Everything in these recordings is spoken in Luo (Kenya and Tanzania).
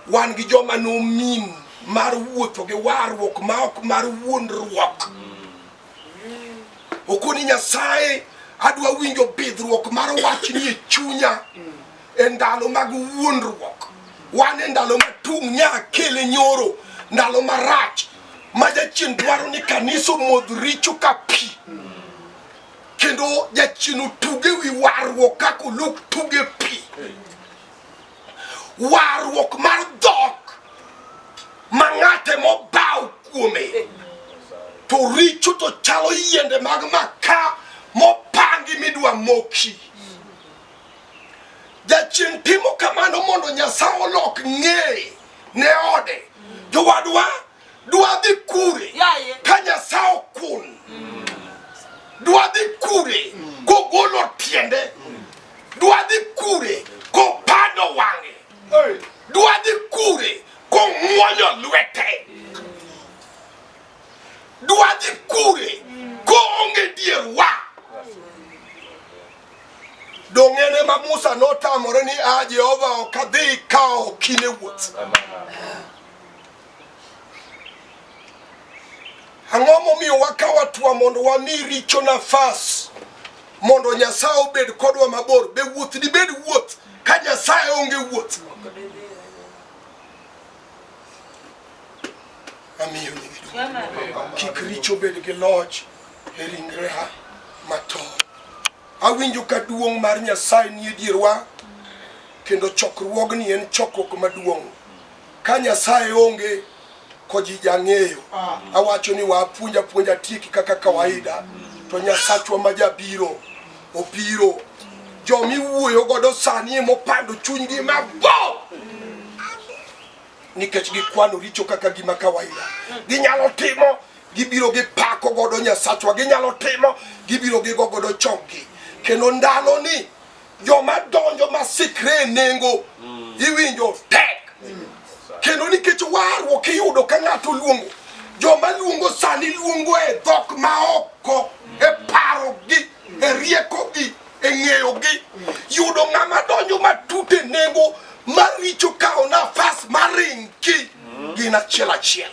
wan gi joma nomin mar wuotho gi warruok ma ok mar wuondruok okoni nyasaye adwa winjo bidhruok mar wach ni e chunya e ndalo mag wuondruok wan e ndalo ma tung' nya kele nyoro ndalo marach ma jachien dwaro ni kanisa omodh richo ka pi kendo jachien otuge wi warruok kaka oluk tuge pi warruok mar dhok ma ng'ate mobaw kuome to richo to chalo yiende mag maka mopangi midwa moki jachien timo kamano mondo nyasaye olok ng'eye ne ode jowadwa Dwadhi kure ka Nyasaye okun. Mm. Dwadhi kure mm. kogolo tiende. Mm. Dwadhi kure kopando wang'e. Dwadhi kure kong'wonyo lwete. Dwadhi kure koonge dier wa. Dong'ene ma Musa notamore ni a ah, Jehova ok adhi kawo kine wuoth. Amen. Ang'o momiyo wakawa twa mondo wami richo nafas mondo Nyasaye obed kodwa mabor? Be wuoth dibed wuoth ka Nyasaye onge wuoth? Amiyo kik richo bed gi loch e ringreha mato. Awinjo ka duong' mar Nyasaye nie dierwa kendo chokruogni en chokruok maduong'. Ka Nyasaye onge ko ji jang'eyo. Awacho ni wa apuonja puonja tieki kaka kawaida to Nyasachwa ma jabiro obiro. Joma iwuoyo godo sani ema opando chunygi mabor nikech gikwano richo kaka gima kawaida. Ginyalo timo gibiro gi pako godo Nyasachwa, ginyalo timo gibiro gi gogodo chokgi. Kendo ndalo ni Joma donjo ma sikre nengo mm. iwinjo tek mm. kendo nikech warruok iyudo ka ng'ato luongo joma luongo sani luongo e dhok maoko e parogi e riekogi e ng'eyogi yudo ng'ama donjo matut e nengo maricho kawo nafas maringi gin achiel achiel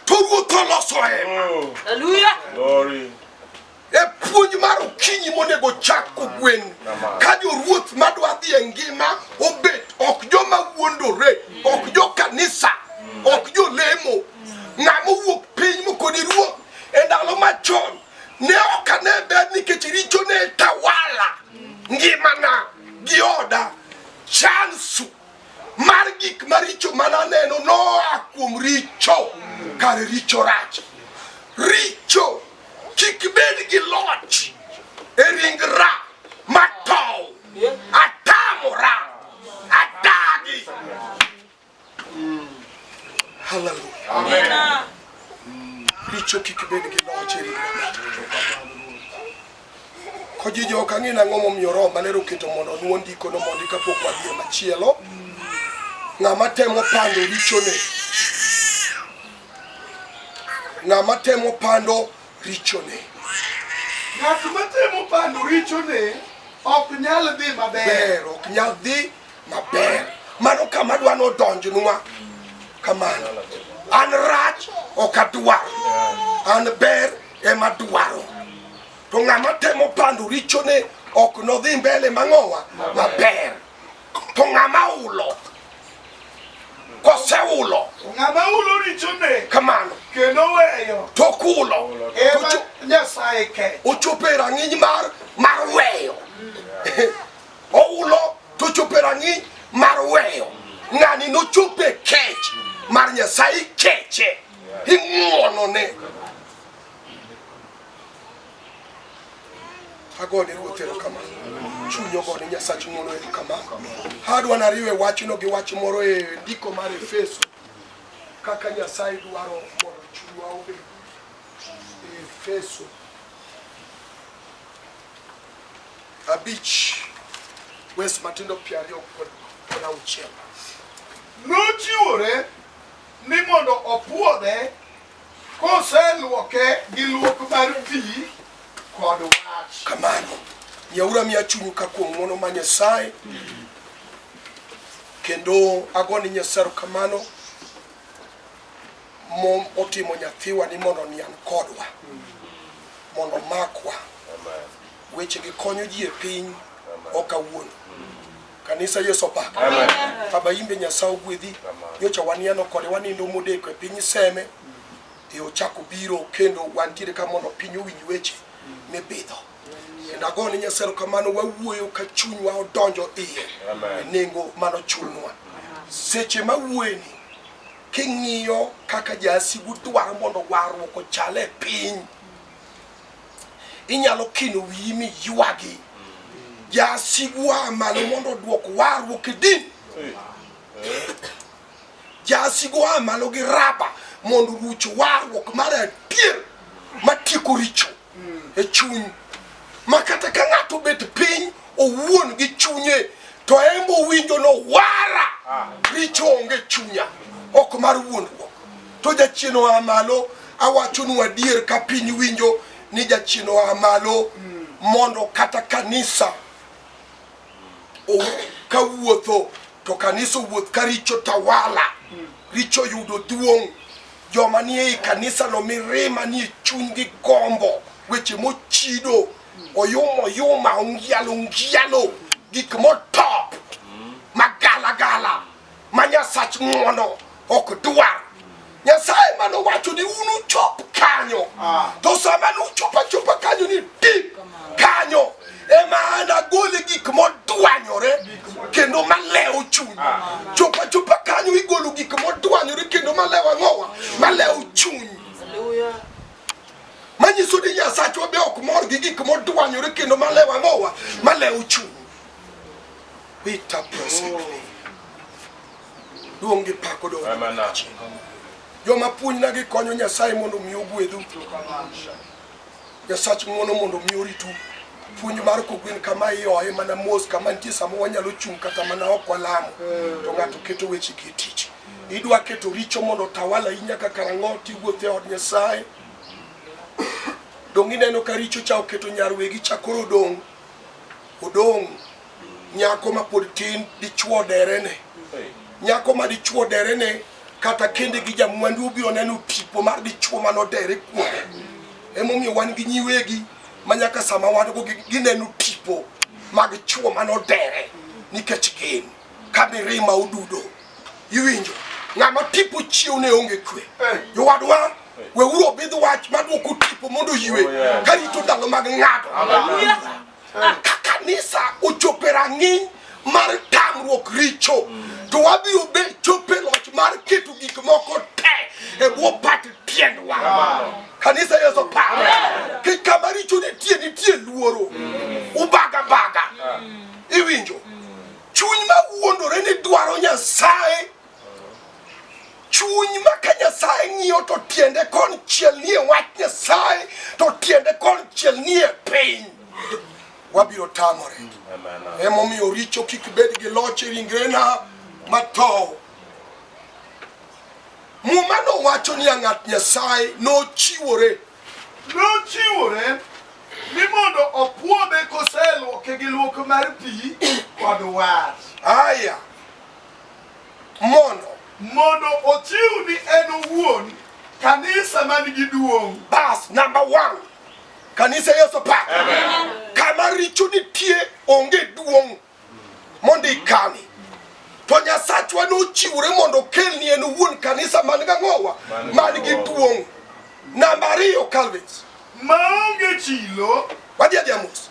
to ruoth oloso hema E puonj mar okinyi monego chak kogwen ka joruoth madwa dhi e ngima obet ok joma wuondore, ok jo kanisa, ok jo lemo, ng'ama owuok piny mokoni ruoth e ndalo machon ne ok ane ber nikech richo ne tawala ngimana gi oda chansu mar gik maricho ma naneno noa kuom richo kar richo rach richo kik bed gi loch e ringra matow atamora adagi haleluya richo kik bed gi loch e ringra Kojiji ok ang'e nang'o momiyo Roho Maler oketo mondo onwo ndikono mondi kapok wadhi e machielo. Ng'ama temo pando richone, ng'ama temo pando richone, Ng'at matemo pando richone ok nyal dhi maber. ber ok nyal dhi maber. Mano kama dwa nodonjnwa kamano. An rach ok adwar, an ber ema dwaro to ng'ama temo pando richone ok nodhi mbele mang'owa maber to ng'ama ulo koseulo ng'ama ulo richone kamano kendo weyo to kulo ema Ocho- nyasaye kecho ochopo e rang'iny mar mar weyo oulo to ochopo e rang'iny mar weyo ng'ani nochopo e kech mar nyasaye keche ing'wonone agone ruoth erokamano chuny ogone nyasach ng'wono erokamano adwa nariwe wachno gi wach moro e ndiko mar efeso kaka nyasaye dwaro mondo chunywa obed efeso abich wes matindo piero ariyo kod auchiel nochiwore ni mondo opwodhe koseluoke gi luok mar pi kod wach. Kamano, yaura miya chunyu ka kuom ng'wono ma Nyasaye, kendo agoni Nyasaye kamano mom otimo nyathiwa ni mondo nian kodwa, mondo makwa. Wechegi konyo ji e piny, ok awuon. Kanisa Yesu opak. Baba imbe Nyasaye ogwedhi. Nyocha waniano kode wanindo modeko e piny seme. E ochako biro kendo wantiere ka mondo piny owinj weche mipidho. Kendo ago ni Nyasaye kamano wawuoyo ka chunywa odonjo iye. E nengo mano chulnwa. Seche ma wuoyeni king'iyo kaka jasigu dwaro mondo warruok ochale piny. inyalo kino wiyi mi ywagi jasigwa malo mondo odwok warruok e din jasigwa malo gi raba mondo ruch warruok mar adier matieko richo e chuny ma kata ka ng'ato obet piny owuon gi chunye to embo winjo no wara richo onge chunya ok mar wuondruok To jachien oa malo, awachonu adier, ka piny winjo ni jachien oa malo, mondo kata kanisa o- ka wuotho to kanisa owuoth ka richo tawala, richo yudo duong'. Joma ni ei kanisa no mirima ni e chunygi gombo, weche mochido, oyuma oyuma, ongialo ongialo, gik motop, magalagala, ma Nyasach ng'wono ok dwar. Nyasaye mane owacho ni unuchop kanyo, ah. to sama nuchopo achopa kanyo ni dip kanyo ema an agole gik modwanyore kendo malewo chuny. Ah. Chopo achopa kanyo igolo gik modwanyore kendo malewo ang'owa, malewo chuny. Hallelujah manyiso ni nyasachwa be ok mor gi gik modwanyore kendo malewo ang'owa malewo chuny Peter presently. Duong' gi pak odong' joma puonjna gi konyo Nyasaye mondo omi ogwedhu. Nyasach ng'wono mondo omi oritu. Puonj mar kogwen kama ioye mana mos kama nitie sama wanyalo chung' kata mana ok walamo to ng'ato keto weche gi e tich. Idwa keto richo mondo otawala ahinya kaka rang'o tiwuotho e od Nyasaye. Donge ineno ka richo cha oketo nyarwegi cha koro odong' odong' nyako ma pod tin dichuo derene nyako ma dichuo derene kata kende gi jamwandu obiro neno tipo mar dichuo ma nodere kuome emomiyo wan gi nyiwegi ma nyaka sama wan go gi- gineno tipo mag chuo ma nodere nikech gin ka mirima odudo iwinjo ng'ama tipo chiew ne onge kwe jowadwa weuru obidh wach madwoko tipo mondo oywe karito ndalo mag ng'ato Ka kanisa ochopo e rang'iny mar tamruok richo, to wabiro be chopo e loch mar keto gik moko te e bwo pat tiendwa. Kanisa Yesu paro ki kama richo nitie nitie luoro, ubaga baga, iwinjo chuny ma wuondore ni dwaro Nyasaye chuny ma ka Nyasaye ng'iyo to tiende kon chiel nie wach Nyasaye to tiende kon chiel nie piny wabiro tamore. Emomiyo richo kik bed gi loch e ringrena matho. Muma nowacho ni ng'at Nyasaye nochiwore nochiwore ni mondo opwodhe koseluoke gi luok mar pi kod wach. Aya. mondo mondo ochiw ni en owuon kanisa man gi duong'. Bas, number one, kanisa Yesu pa. Kama richo nitie onge duong' mondo ikani. To Nyasachwa nochiwore mondo okelni en owuon kanisa man gang'owa man gi duong'. Namba ariyo, Calvins. Maonge chilo. Wadhi adhi amos.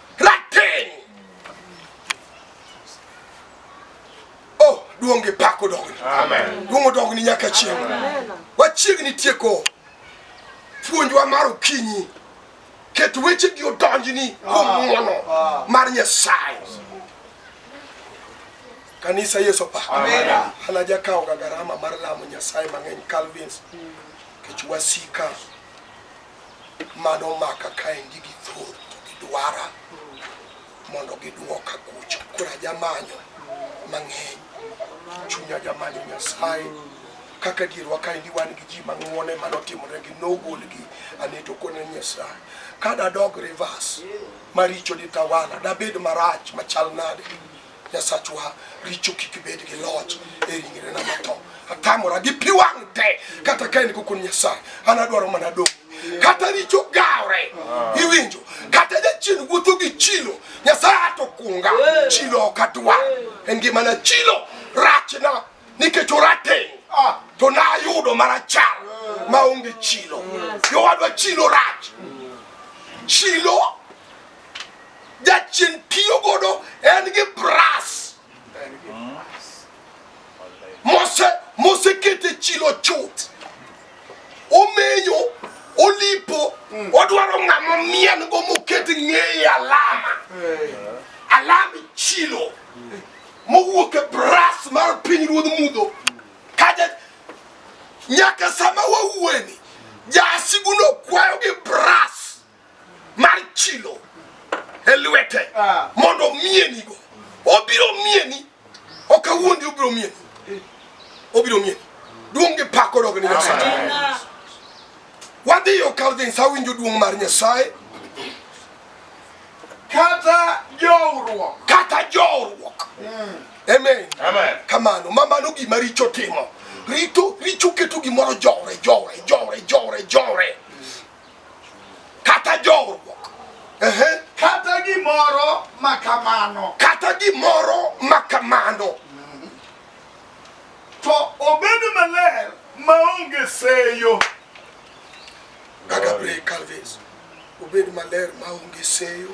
Rateng'. Oh, duong' gi pak odogni. Amen. Duong' odogni nyaka chieng'. Wachiegni tieko puonjwa mar okinyi. Ket weche gi odonjni kuom ah. ng'wono ah. mar Nyasaye. Kanisa Yesu pa. Amen. Anajakawo ga garama mar lamo Nyasaye mang'eny Calvins. Kech wasika. mano maka kaendi gi thur to gidwara mondo gidwoka kucho koro ajamanyo mang'eny chunya jamanyo nyasaye kaka dierwa kaendi wan gi ji mang'wone manotimoregi nogolgi aneto kone nyasaye ka dadog rivers maricho ditawala dabed marach machal nade Nyasachwa, richo kik bed gi loch e ringrena matho. Atamora gi pi wang' te, kata ka en kokon Nyasaye, an adwaro mana dong' kata richo gawre iwinjo kata jachien wuotho gi chilo nyasaye ato kunga chilo ok adwar e ngimana chilo rachna nikech orateng' ah, to nayudo marachar maonge chilo jowadwa chilo rach chilo jachien tiyo godo en gi bras mose mosekete chilo chuth omenyo olipo mm. odwaro ng'ama mien go moket ng'eye alama alam chilo mowuok e bras mar piny ruodh mudho kaja nyaka sama wawueni jasiguno kwayo gi bras mar chilo e lwete ah. mondo omienigo obiro mieni ok awuondi obiro mieni obiro mieni duong' gi pak odog ni nyasaye wadhi yo kalvins awinjo duong' mar nyasaye kata jowruok kata jowruok hmm. amen kamano ma mano gima richo timo rito richo keto gimoro jowre jowre jowre jowre jowre kata jowruok kata gimoro makamano kata gimoro makamano to obed maler maonge seyo gagabre calvis obed maler maonge seyo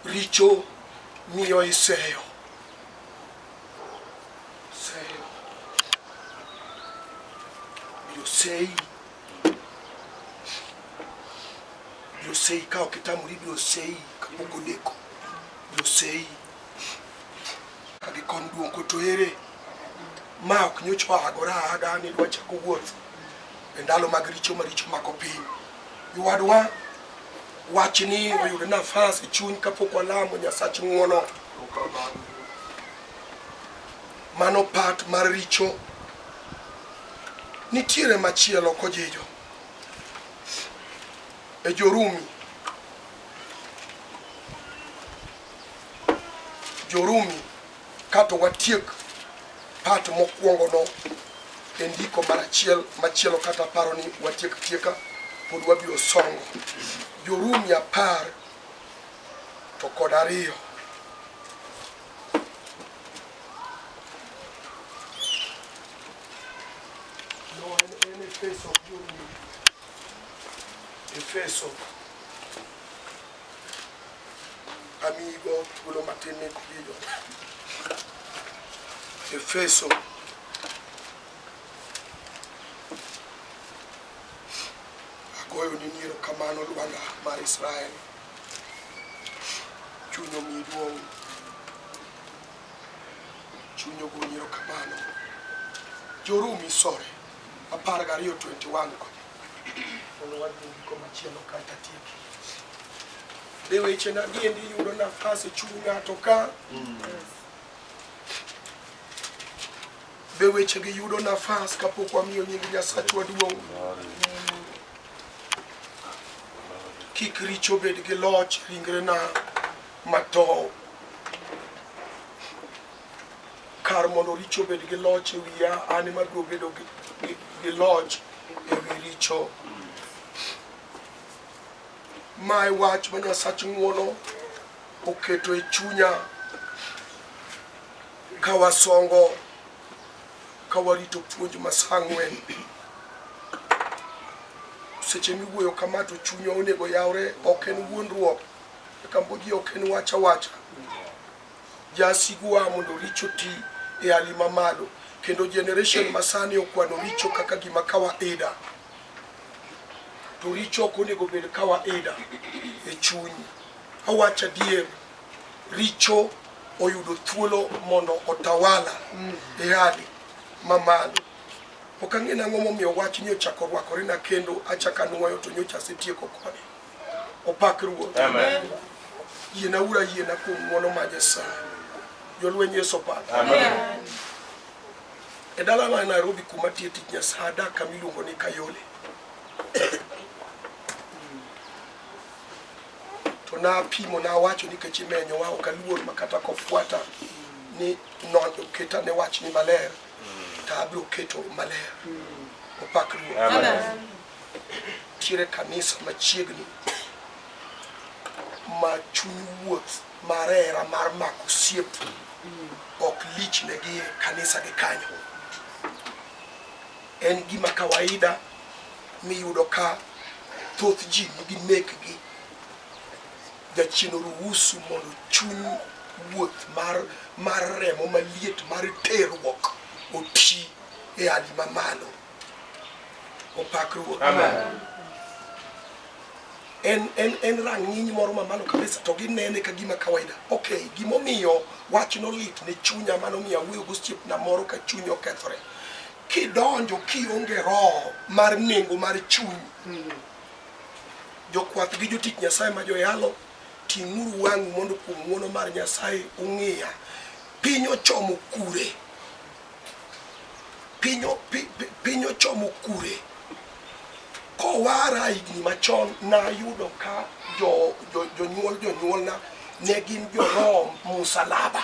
richo miyo iseyo Yosei, Yosei kao kitamu libi Yosei kapoko deko Yosei agikon duong' koto ere ma ok nyocho agora aga ni dwachako wuoth e ndalo mag richo maricho mako piny Jowadwa, wachni oyudo nafas e chuny kapok walamo Nyasach ng'uono. Mano pat mar richo. Nitiere machielo kojijo e Jorumi Jorumi Kato watiek part mokwongo no e ndiko mar achiel machielo kata paro ni watiek tieka pod wabiro songo jorumi apar to kod ariyo No, en- en Efeso, Jorumi. Efeso Amigo thuolo matin ni kubido. Efeso agoyo ni niero kamano Lwanda mar Israel. Chuny omi duong'. Chuny ogo niero kamano. Jorumi sore. apar gariyo 21 go mondo wadhi giko machielo kata tieki be weche na diendi yudo nafas e chuny ng'ato ka be wechegi yudo nafas kapok wamiyo nying nyasachwa duong' kik richo bed gi loch ringrena matow Kar mondo richo obed gi loch e wiya, an ema abiro bedo gi, gi, gi loch e wi richo. Mae wach ma Nyasach ng'uono oketo e chunya ka wasongo ka warito puonj ma saa ang'wen. Seche miwuoyo kama to chunya onego yawre, ok en wuondruok. Kambo ji ok en wacha wacha. Jasigu waa mondo richo ti e hali ma malo kendo generation masani okwano richo kaka gima kawaida to richo ok onego bed kawaida e chuny. Awacho adier, richo oyudo thuolo mondo otawala e hali ma malo. Ok ang'e nang'o momiyo wachni ochako rwakorena kendo achako anuoyo to nyocha asetieko kode. Opak Ruoth. Amen. Yiena ura yiena kuom ng'wono ma Nyasaye. Jolweny Yesu opak. Amen. E dala ma Nairobi kuma tie tich Nyasaye adak kama iluongo ni Kayole. To napimo nawacho nikech imenyowa ok aluor ma kata kofuata ni nondo keta ne wach ni maler to abiro keto maler. Opak Ruoth. Amen. Nitiere kanisa machiegni ma chuny wuoth mar hera mar mako osiep ok lichnegi e kanisa gi kanyo. En gima kawaida miyudo ka thoth ji nigi mekgi jachien oruhusu mondo chuny wuoth mar mar remo maliet mar terruok oti e hali mamalo. opak ruoth en en en rang'iny moro mamalo kabisa to ginene ka gima kawaida okay gimomiyo wach nolit ne chunya mano miyo awuoyo gosiepna moro ka chuny okethore kidonjo kionge roho mar nengo mar chuny jokwath gi jotich nyasaye ma joyalo ting'uru wang'u mondo kuom ng'uono mar nyasaye ung'iya piny ochomo kure piny o- pi- pi- piny ochomo kure kowara higni machon nayudo ka jo- jo- jonyuol jonyuolna ne gin jorom musalaba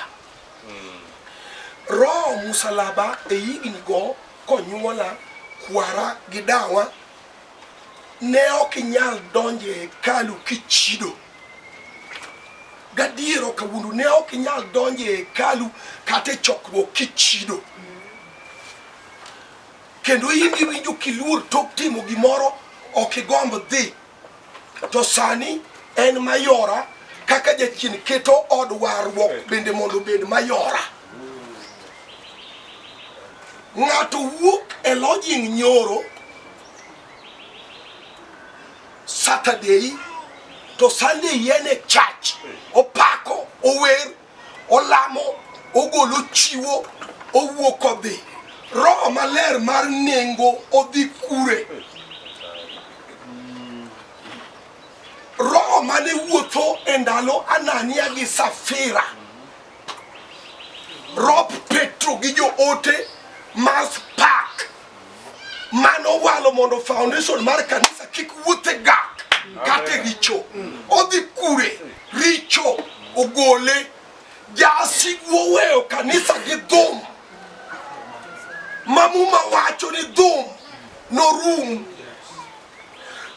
roho musalaba e higni go konyuola kwara gi dawa Ne ok inyal donjo e hekalu kichido. Gadier ok awuondu, ne ok inyal donjo e hekalu kata e chokruok kichido. Kendo in iwinjo kiluor tok timo gimoro, ok igomb dhi. To sani en mayora kaka jachien keto od warruok bende mondo obed mayora. Ng'ato wuok e lodging nyoro Saturday to Sunday yien e church opako ower olamo ogolo chiwo owuok odhi roho maler mar nengo odhi kure roho mane wuotho e ndalo Anania gi Safira Rob Petro gi joote Mars Park mano walo mondo foundation mar kanisa kik wuothe gak kate richo odhi kure richo ogole jasigwo weyo kanisa gi dhum mamuma wacho ni dhum norum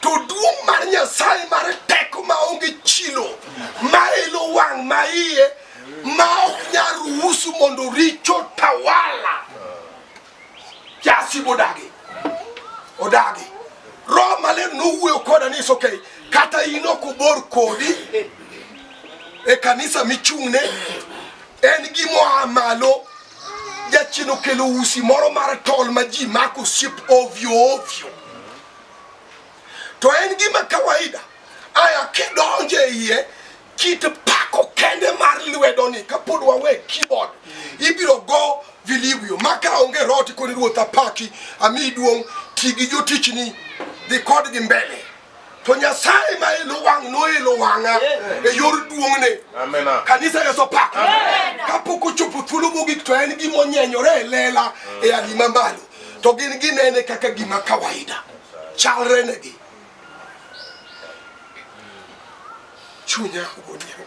to duong' mar Nyasaye mar teko ma onge chilo ma elo wang' ma iye ma ok nyal ruhusu mondo richo tawala jasibu odagi odagi roho maler nowuoyo koda ni isoke kata in ok obor kodi e kanisa michung'ne en gimoa malo Jachien okelo usi moro mar tol ma ji mako osiep ovyo ovyo, to en gima kawaida. Aya kidonje e iye kit pako kende mar lwedoni kapod wawe keyboard ibiro go vilivyo maka onge roti koni ruoth apaki ami duong' ti gi jotichni dhi kodgi mbele to nyasaye ma ilo wang' noilo wang'a e yor duong'ne kanisa yeso pak kapok ochopo thuolo mogik to en gima onyenyore e lela mm. e alima malo to gin ginene kaka gima kawaida chalre negi chunya ogonyero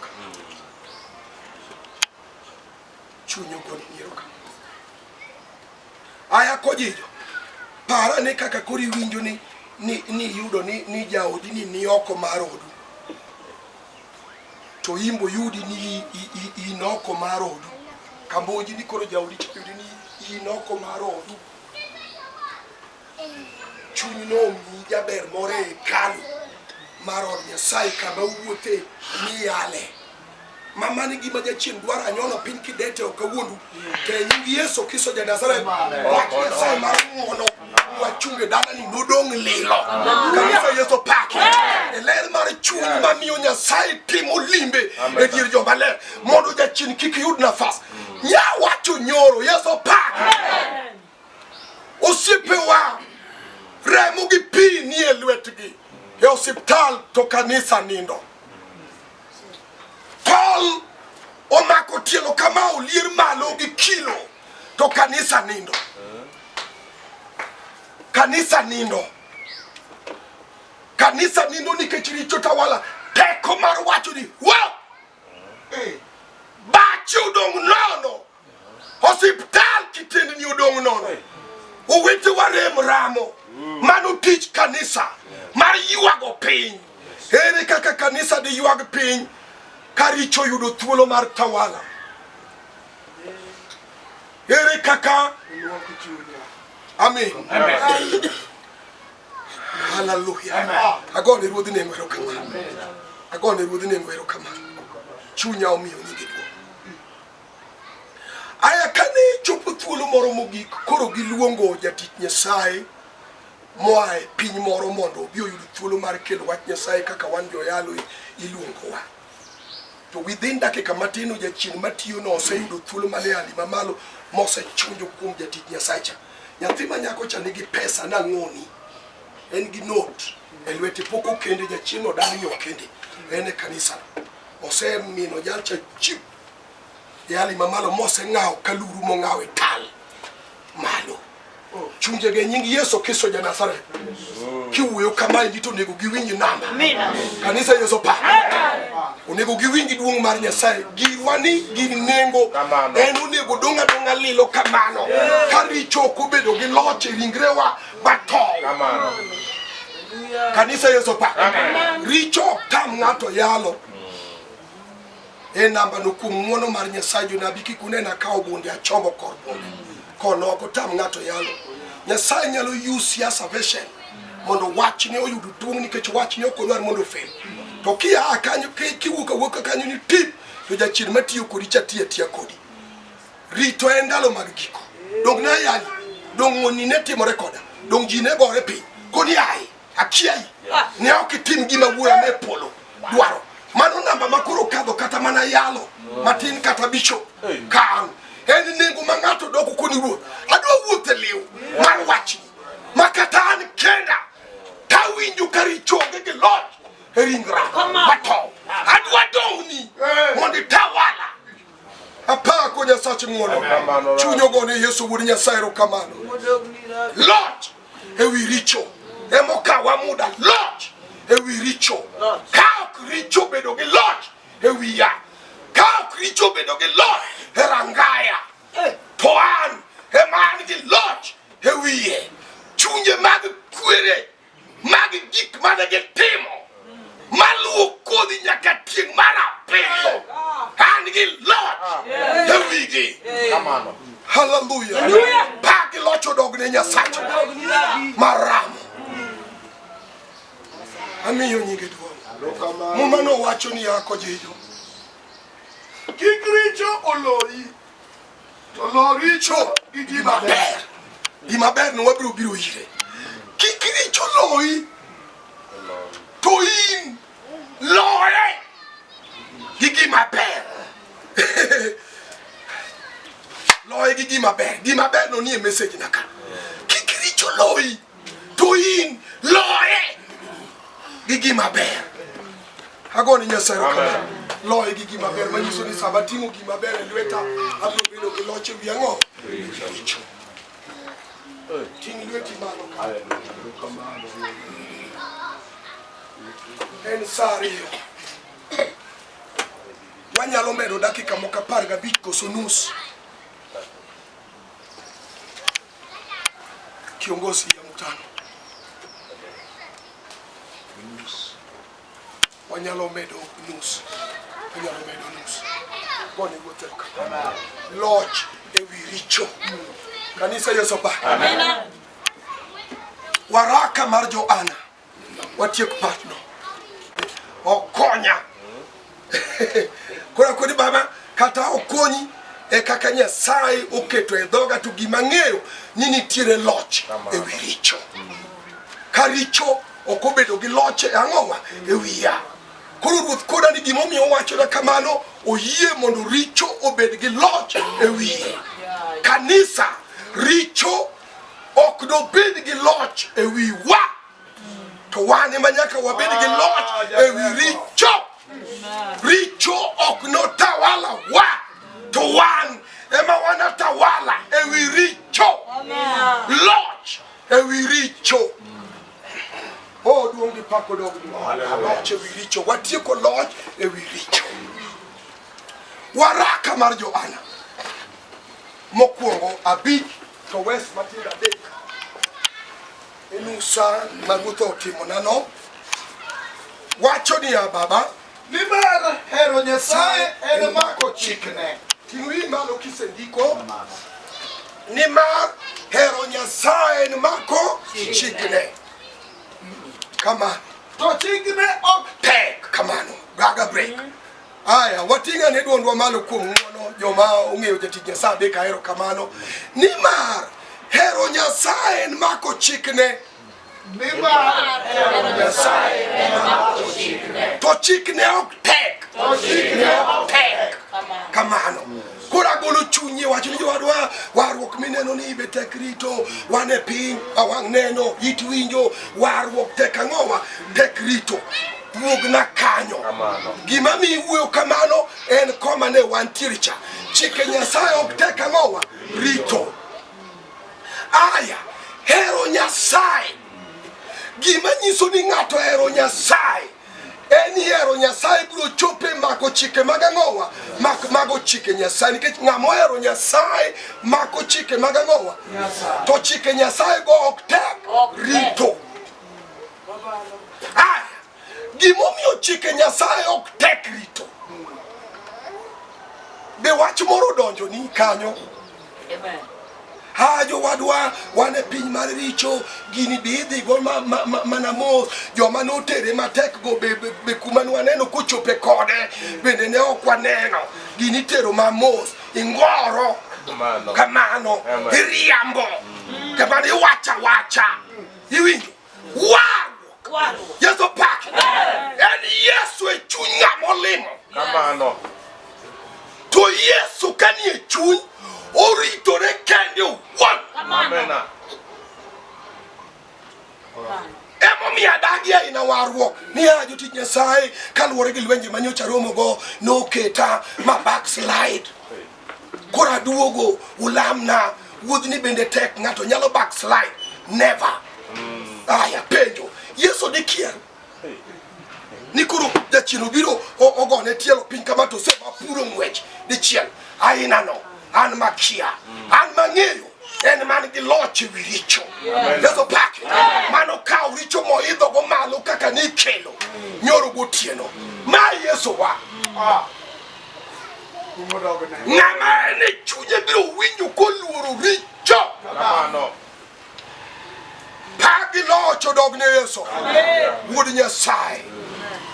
Chuny ogoni ni erokamano. Aya kojijo, par ane kaka koro iwinjo ni ni ni iyudo ni ni jaodi ni ni oko mar odu to imbo yudi ni i- i- i- in oko mar odu kamboji ni koro jaodi to yudi ni in oko mar odu Chuny nomi jaber moro e hekalu mar od Nyasaye kama uwuothe miyale. Ma mano e gima jachien dwaro anyono piny kidete ok awuondu. To e nying Yesu Kristo ja Nazareth, wach Nyasaye mar ng'wono wachunge dalani nodong' lilo. Kanisa Yesu paki. E ler mar chuny mamiyo Nyasaye timo limbe e dier joma ler mondo jachien kik yud nafas. Nya wacho nyoro Yesu paki. Osiepewa, remo gi pi nie lwetgi e osiptal to kanisa nindo. Tol omako tielo kama olier malo gi kilo to kanisa nindo. Kanisa nindo. Kanisa nindo nikech richo tawala. Teko mar wacho ni, wow! Bache odong' nono. Osiptal kitendni odong' nono, owetewa rem ramo. Mano tich kanisa mar ywago piny. Ere kaka kanisa diywag piny ka richo yudo thuolo mar tawala? Ere kaka Amen. Hallelujah. Agone ruodhi nengo erokamano. Agone ruodhi nengo erokamano. Chunya omiyo nyingi Aya kane chopo thuolo moro mogik, koro giluongo jatich Nyasaye moa e piny moro mondo obi oyud thuolo mar kelo wach Nyasaye kaka wan joyalo iluongowa. To within dakika matin o jachien matiyo no oseyudo thuolo mane ali mamalo mosechunjo kuom jatich Nyasaye cha. Nyathi ma nyako cha nigi pesa nang'oni. En gi note e lwete pok okende jachien odagi okende. En e kanisa. Osemino jalcha chip Yali ma malo mose ng'aw ka luru mo ng'aw e tal malo. Chunje ge nying Yesu Kristo ja Nazareth. Kiwuoyo kama e to onego giwinj namba. Kanisa Yesu pa. Onego giwinj duong' mar Nyasaye. Giwa ni gi nengo. En onego donga donga lilo kamano. Ka richo ok obedo gi loch e ringrewa bato. Kanisa Yesu pa. Richo ok tam ng'ato yalo. e namba no kuom ng'uono mar Nyasaye jonabi kik unena ka ogunde achomo kor bunde kono ok otam ng'ato yalo Nyasaye nyalo use siasa version mondo wachne oyud duong' nikech wachne ok odwar mondo ofel to kia kanyo kiwuok awuoka kanyo ni tip to jachien matiyo kodi cha tiya tiya kodi rito en ndalo mag giko dong nayali dong ng'oni ne timore koda dong ji ne gore piny koni aye Achiel yeah. ne ok itim gima wuoya ne polo dwaro mano namba ma koro kadho kata mana yalo matin kata bicho kan en nengo ma ng'ato doko koni wuoth adwa wuoth e liw mar wachni ma kata an kenda tawinjo ka richoge gi loch e ringra matow adwa dong'ni mondo itawala apaa ko nyasache ng'wono chuny ogone yesu wuod nyasaye erokamano loch ewi richo emokawa muda loch ewi richo ka ok richo bedo gi loch ewi ya ka ok richo bedo gi loch e rangaya to an ema an gi loch ewiye chunje mag kwere mag gik mane gitimo maluwo kodhi nyaka tieng' mar abiriyo an gi loch e wigi haleluya pa gi loch odogne nyasacha maramo amiyo nyinge duong' muma nowacho ni yako jijo kik richo oloyi To lo richo gi gima ber. Gima ber no wabiro biro ire. Kik richo loyi. To in loye gi gima ber. loye gi gima ber. Gima ber no nie message na ka. Kik richo loyi. to in loye gi gima ber agoni nyasaye rokamano loye gi gima ber manyiso ni sama ting'o gima ber e lweta abiro bedo gi loch e wi ang'o richo ting' lweti malo en sa ariyo wanyalo medo dakika moko apar gabich koso nus kiongozi ya mkutano wanyalo medo nus wanyalo medo nus gone gotheka loch ewi richo kanisa yeso ba waraka mar joana Watiek patno. Okonya. Kora kodi baba kata okonyi e kaka Nyasaye oketo e dhoga to gima ng'eyo ni nitiere loch e wi richo. Ka richo ok obedo gi loch e ang'owa e wiya. Koro ruoth koda ni gimomiyo owachona kamano oyie mondo richo obed gi loch e wiye. Kanisa richo ok dobed gi loch e wi wa to wan ema nyaka wabed gi loch e wi richo richo ok notawala wa to wan ema wanatawala e wi richo loch e wi richo Oh, duong' gi pako dog loch e wi richo watieko loch e wi richo waraka mar johana Mokwongo abich to wes matindo adek enusa ma ruoth otimonano wacho niya baba nimar hero nyasaye en mako chikne ting'ri malo kisendiko nimar hero nyasaye en mako chikne kamano to chikne ok tek kamano gaga break mm -hmm. Aya, wating'a ne dwondwa malo kuom ng'wono joma ong'eyo jatich Nyasaye adek ahero kamano nimar hero Nyasaye en mako chikne to chikne ok tek kamano koro agolo chunyi wacho ni jowadwa warruok mineno ni ibe tek rito wan e piny awang' neno it winjo warruok tek ang'owa tek rito wuogna kanyo. Gima mi wuoyo kamano en koma ne wantiere cha. Chike Nyasaye ok tek ang'owa rito. Aya, hero Nyasaye. Gima nyiso ni ng'ato hero Nyasaye en hero Nyasaye biro chope mako chike mag ang'owa mak mago chike Nyasaye nikech ng'ama ohero Nyasaye mako chike mag ang'owa to chike Nyasaye go ok tek rito. Aya, gimomiyo chike Nyasaye ok tek rito. Be wach moro donjo ni kanyo? Amen. Ha jowadwa wan e piny mar richo gini be idhigo mana ma, ma, ma mos joma notere matek go be, be, be kuma nwaneno kochope kode bende ne ok waneno gini tero mamos ingoro kamano iriambo kamano iwacha wacha iwinjo Warruok. Yesu pak. En Yesu e chuny ng'ama olimo. Kamano. To Yesu kanie chuny oritore kende owuon. Kamano. Emomiyo adagi aina warruok niya jotich Nyasaye kaluwore gi lwenje manyocha romogo noketa ma backslide. Koro aduogo ulamna wuodhni bende tek ng'ato nyalo backslide never. Aya penjo Yesu dikier ni koro jachien obiro ogone tielo piny kama to sema puro ng'wech dichiel aina no an makia an mang'eyo en man gi loch ewi richo yeso pake mano kawo richo moidhogo malo kaka nikelo nyoro gotieno ma yesowa ng'ama en e chunye biro winjo koluoro richo pagi locho dog ne yesu wuod nyasaye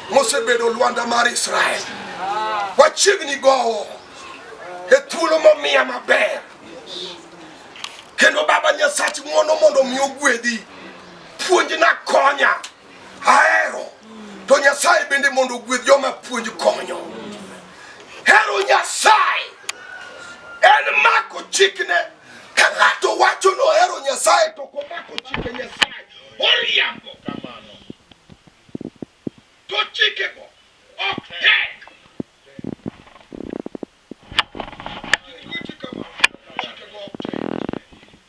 mosebedo lwanda mar israel wachiegni gowo e thuolo momiya maber kendo baba nyasach ng'wono mondo mi ogwedhi puonjna konya Ahero. To Nyasaye bende mondo ogwedh joma puonj konyo. Hero Nyasaye en mako chikne. Ka ng'ato wacho ni ohero Nyasaye to ok omako chike Nyasaye, oriambo. To chikego ok tek.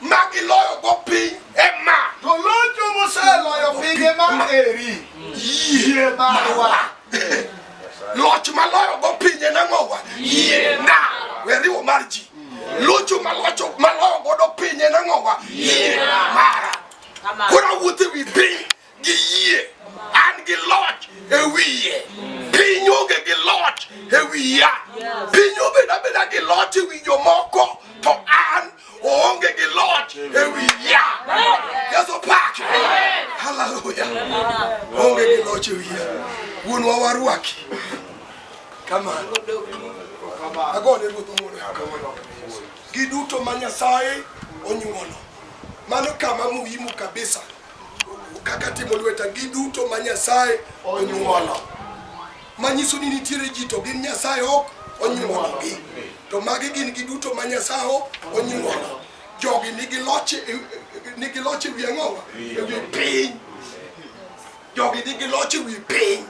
ma giloyogo piny e ma To locho moseloyo pinje ma eri. yie marwa loch maloyogo pinje nang'owa yie na weriwo mar ji locho malocho maloyo godo pinje nang'owa yie mara koro awuotho e wi piny gi yie an gi loch e wiye piny onge gi loch e wiya piny obeda beda gi loch e wi jomoko to an oonge gi loch e wiya yesu pake haleluya onge gi loch e wiya wuonwa warwaki kamano agone ruoth wuono kamano giduto ma nyasaye onyuolo mano kama muhimu kabisa kaka timo lweta giduto ma Nyasaye onyuolo, manyiso ni nitiere ji to gin Nyasaye ok onyuologi, to magi gin giduto ma Nyasaye ok onyuolo. Jogi nigi loch e- e- nigi loch ewi ang'owa ewi piny, jogi nigi loch ewi piny,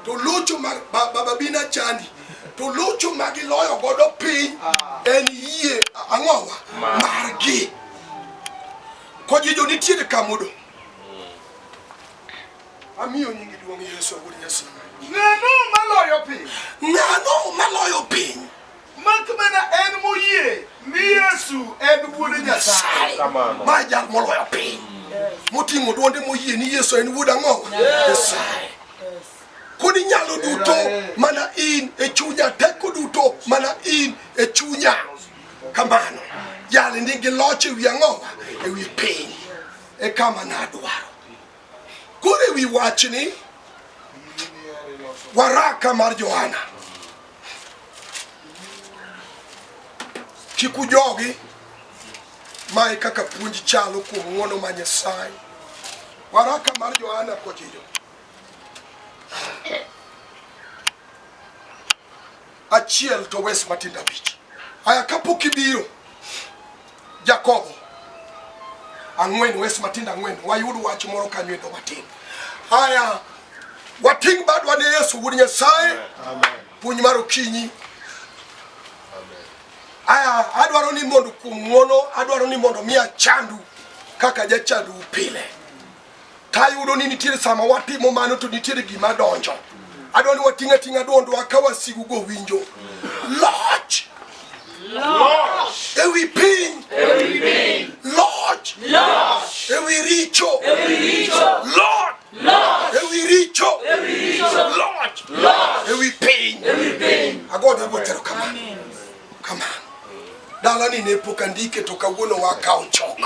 to locho ma ba- baba bina chandi to locho ma giloyo godo piny en yie ang'owa margi Kojijo nitiere ka modong'. Amiyo nyingi duong' Yesu wuod Nyasaye. Ng'ano maloyo piny? Ng'ano maloyo piny? Mak mana en moyie ni Yesu en wuod Nyasaye. Ma jal moloyo piny. Moting'o duonde moyie ni Yesu en wuod ang'o? Nyasaye. Kodi nyalo duto mana in e chunya, teko duto mana in e chunya. kamano jali nigi loch e wi ang'owa e wi piny e kama nadwaro koro e wi wachni waraka mar johana kik ujogi mae kaka puonj chalo kuom ng'wono ma nyasaye waraka mar johana kochijo Achiel to wes matindo abich. Aya kapok ibiro Jakobo ang'wen wes matindo ang'wen wayud wach moro kanyo endo matin. Aya wating' badwa ne Yesu wuod Nyasaye. Puonj mar okinyi. Aya adwaro ni mondo kuom ng'wono adwaro ni mondo mi achandu kaka jachandu pile. to ayudo ni nitiere sama watimo mano to nitiere gima donjo adwa ni wating' ating'a dwondwa ka wasigu go winjo loch ewi piny loch ewi richo loch ewi richo loch ewi piny agoyo ne ruoth erokamano Kamano. Dalani ne pok andike to kawuono wakawo chok.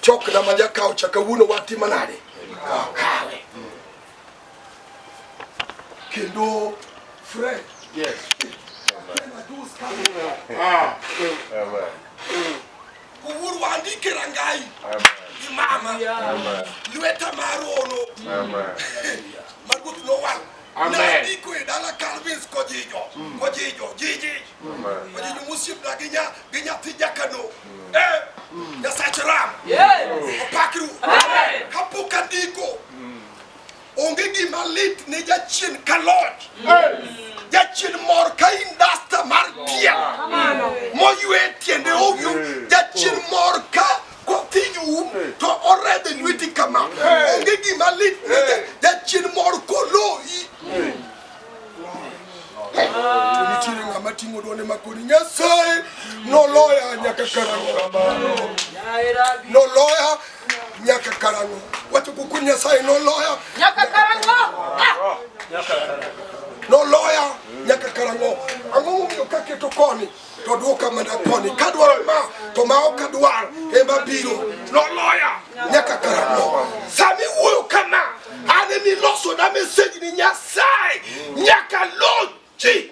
Chok na ma jakawo cha kawuono watimo nade? Kawe. Kendo Fred. Yes. Ah. Wuuru wandike rangai gi mama lweta mar ono ma ruoth nowal nandiko e dala Calvins kojijo kojijo jiji kojijo mosiepna gi nya gi nyathi jakano eh Nyasach Ram opakru kapok andiko Onge gima lit ne jachien ka loch. Jachien mor ka indasta mar pien moywe tiende owyo. Jachien mor ka kothinyo um to oredhe lweti kama. Onge gima lit ne jachien mor koloyi. nitiere ng'ama ting'o duonde makoni nyasaye noloya nyaka karang'o noloya nyaka karang'o wacho kuku nyasaye noloya nyaka karang'o noloya nyaka karang'o ang'o momiyo kaketo koni to duoka mana koni kadwaro ma to ma ok adwar ema biro noloya nyaka karang'o sami wuoyo kama an emi loso na meseji ni nyasaye nyaka lochi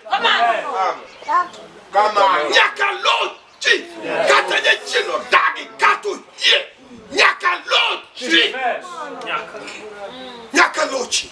nyaka lochi kata jachien odagi kata oyie nyaka lochi nyaka lochi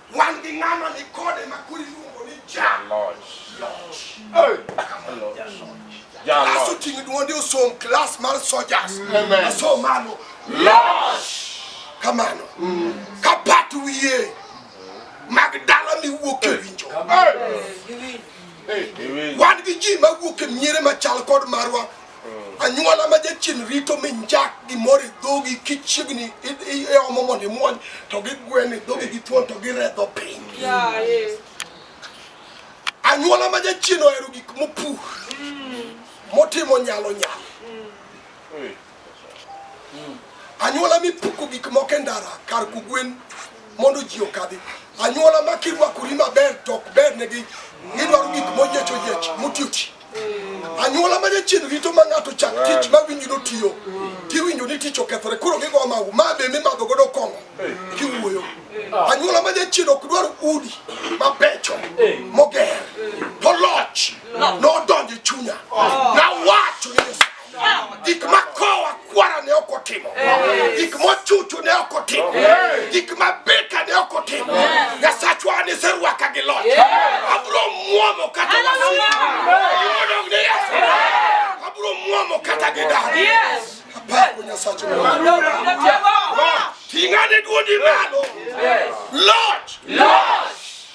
Wan gi ng'ama ni kode ma koro iluongo ni Jaloch. Klas oting'o duonde osom klas mar sojas. Asom malo. Loch! Kamano. Ka pat wiye mag dala miwuok e winjo. Wan gi ji mawuok e miere machal kod marwa anyuola ma jachien rito mi njak gimoro e dhogi kichiegni iomo mondo imuony to gigwen e dhogi gi thuon to giredho piny anyuola ma jachien ohero gik mopur motimo nyalo nyalo anyuola mipuko gik moko e ndara kar kugwen mondo ji okadhi anyuola ma kirwakori maber to ok bernegi gidwaro gik moyiech oyiech motiochi anyuola ma jachien rito ma ng'ato chak tich ma winji notiyo tiwinjo ni tich okethore koro gigo magu ma be mimadho godo kong'o kiwuoyo anyuola ma jachien ok dwar udi mabecho moger to loch nodonjo e chunya nawacho ni gik ma kowa kwara ne ok otimo gik mochuchu ne ok otimo gik ma beka ne ok otimo nyasachwa an iserwaka gi loch abro mwomo kata wasidodog ne yesu abro mwomo kata gi daro apako nyasacho ting'ane duodi malo loch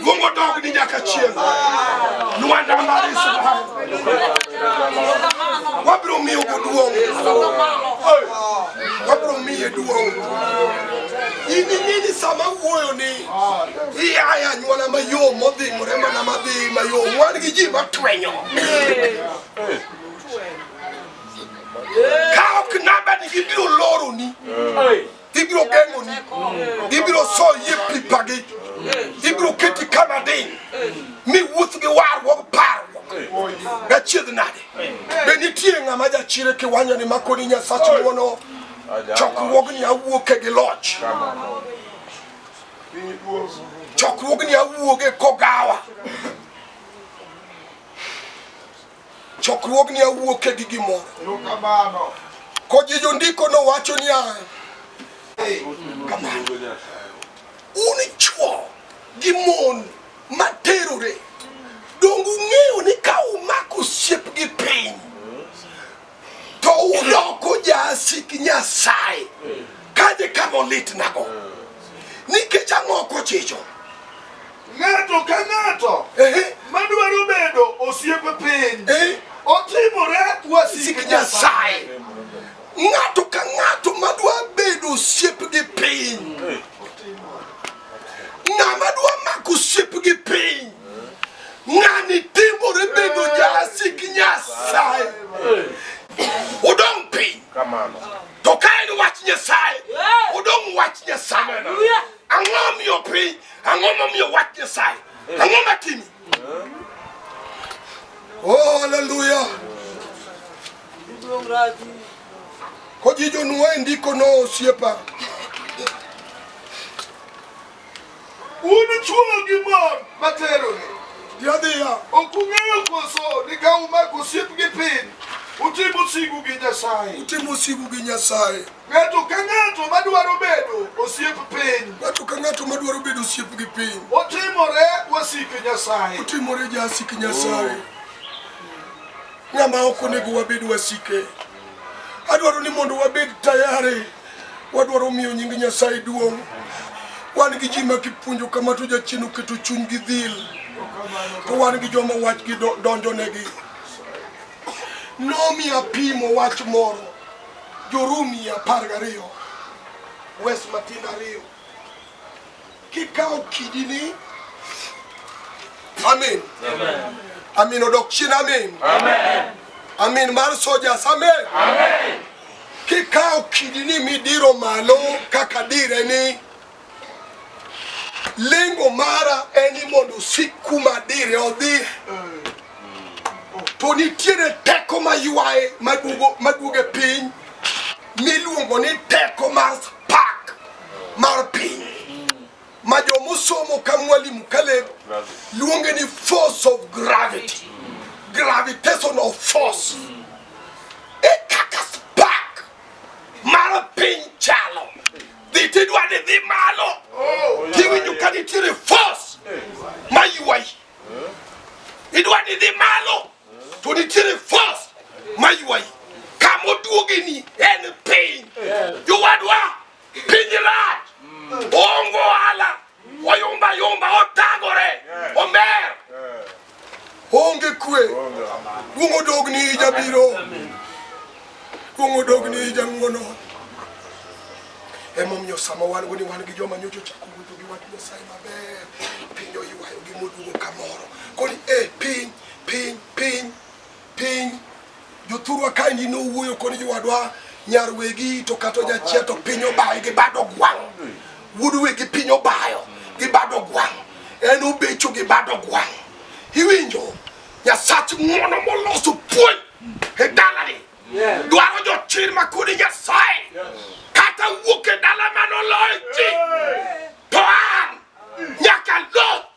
Mungu ataka kuninja kachienza Luanda mari sabaha Wabro mi ugo duong Wabro mi ye duong Ini nini sama uoyo ni Iya ya nyuana mayo modhi murema na madhi mayo Mwani giji matwenyo Kao kinaba ni gibiro loro ni Hey ibiro geng'oni ibiro so yie pipagi ibiro keti kama diny mi wuoth gi warruok parruok gachiedh nade be nitie ng'ama jachire kiwanyo ni makoni nyasach wuono chokruogni awuoke gi loch chokruogni awuoge kogawa chokruogni awuoke gi gimoro kojijo ndiko nowacho niya un chuo gi mon materore donge ung'eyo ni ka umako osiep gi piny to udoko jasik Nyasaye kaje kama olitnago nikech ang'o ok ochicho ng'ato ka ng'ato madwaro bedo osiepe piny otimore wasik Nyasaye ng'ato ka ng'ato madwa bedo osiep gi piny ng'ama dwa mako osiep gi piny Ng'ani timore bedo jasik Nyasaye. Udong' piny. To ka en wach Nyasaye, udong' wach Nyasaye. Ang'o miyo piny? Ang'o momiyo wach Nyasaye? Ang'o matimi? Oh, haleluya. Kojijo nuo e ndiko no osiepa. Un chwo gi mon ma terore, Yadhiya. ok ung'eyo koso ni ka umako osiep gi piny, utimo sigu gi Nyasaye? Utimo sigu gi Nyasaye. Ng'ato ka ng'ato madwaro bedo osiep piny, Ng'ato ka ng'ato madwaro bedo osiep gi piny, otimore wasik Nyasaye. otimore jasik Nyasaye. Ng'ama ok onego wabed wasike. Adwaro ni mondo wabed tayari. Wadwaro miyo nying Nyasaye duong'. Wan gi ji ma kipuonjo kama to jachien oketo chuny gi dhil, to wan gi joma wachgi do- donjonegi. Nomi apimo wach moro, Jorumi apar gariyo, wes matindo ariyo. kikawo kidini amin amin odok chien amin amin mar sojas amin kikawo kidini midiro malo kaka dire ni lengo mara en ni mondo osik kuma dire odhi to nitiere teko maywaye maduoge piny miluongo ni teko mar pak mar piny ma jomosomo ka mwalimu Caleb luonge ni force of gravity gravitational force e kaka spark mar piny chalo dhi tidwa ni dhi malo tiwinjo ka nitiere force ma ywayi idwa ni dhi malo to nitiere force ma ywayi kama oduogeni en piny jowadwa piny rach ongo ohala oyumba yumba otagore omer onge kwe duong' odogni jabiro duong' odogni jang'wono emomiyo sama wan go ni wan gi joma nyocha ochako wuotho gi wach nyasaye maber piny oywayogi moduogo kamoro koni e eh, piny Piny, piny, piny. Jothurwa kaendi nowuoyo koni jowadwa nyar wegi to kata jachia to piny obayo gi bado gwang'. Wuod wegi piny obayo gi bado gwang'. En obecho gi bado gwang'. Iwinjo? Nyasach ng'wono moloso puonj e dalani. Dwaro jochir ma kodi Nyasaye. Kata wuok e dala manoloyo ji. To an nyaka lo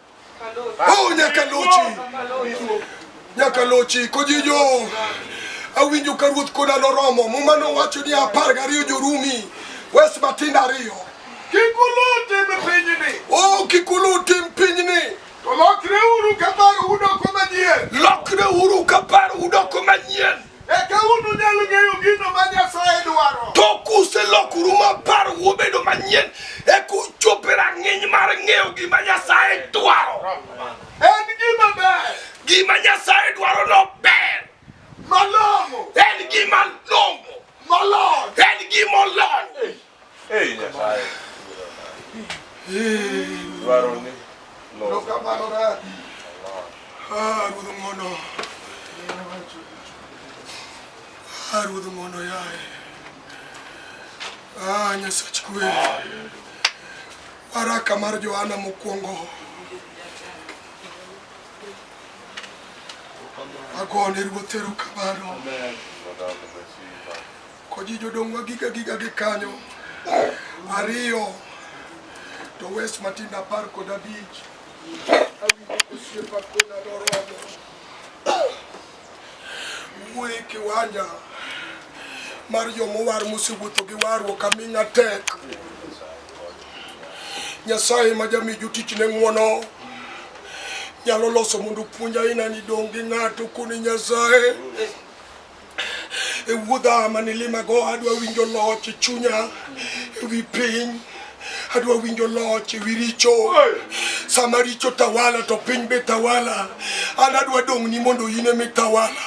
Oh, nyaka lochi. Nyaka lochi kojijo. Awinjo ka ruoth koda noromo. Muma nowacho ni apar gariyo jorumi. Wes matindo ariyo. Kik uluw tim pinyni. Oh, kik uluw tim pinyni. To lokreuru kapar udoko manyien. Lokreuru kapar udoko manyien. Eka ununyal ng'eyo gino ma Nyasaye dwaro. To kuselokoru ma parou obedo manyien, eka uchop e rang'iny mar ng'eyo gima Nyasaye dwaro. En gima ber. Gima Nyasaye dwaro no ber. Malong'o. En gima long'o. Molony. En gima olony. Ei Nyasaye. Dwaroni. Erokamano dadi. Ah, Ruoth ng'wono. Ah, Ruoth ng'wono yaye. Ah, Nyasach kwe. Waraka mar Johana mokwongo. Agone Ruoth erokamano. Amen. Koji jodongwa giga giga gi kanyo ariyo to wes matin apar kod abich awinjo kosiepa kona doromo wuoye kiwanja mar jomowar mosewuotho gi warruok aming'a tek nyasaye ma jami jotichne ng'wono nyalo loso mondo puonj aina ni dong' gi ng'ato koni nyasaye e wuodha mane limago adwa winjo loch e chunya e wi piny adwa winjo loch e wi richo sama richo tawala to piny be tawala an adwa dong' ni mondo in ema itawala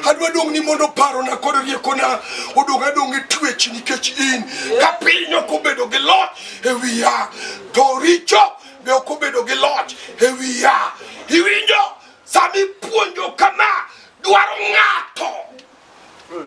adwa dong' ni mondo parona kod riekona odong' adong' e twech nikech in ka piny ok obedo gi loch e wiya to richo be ok obedo gi loch e wiya iwinjo Sami puonjo kama dwaro ng'ato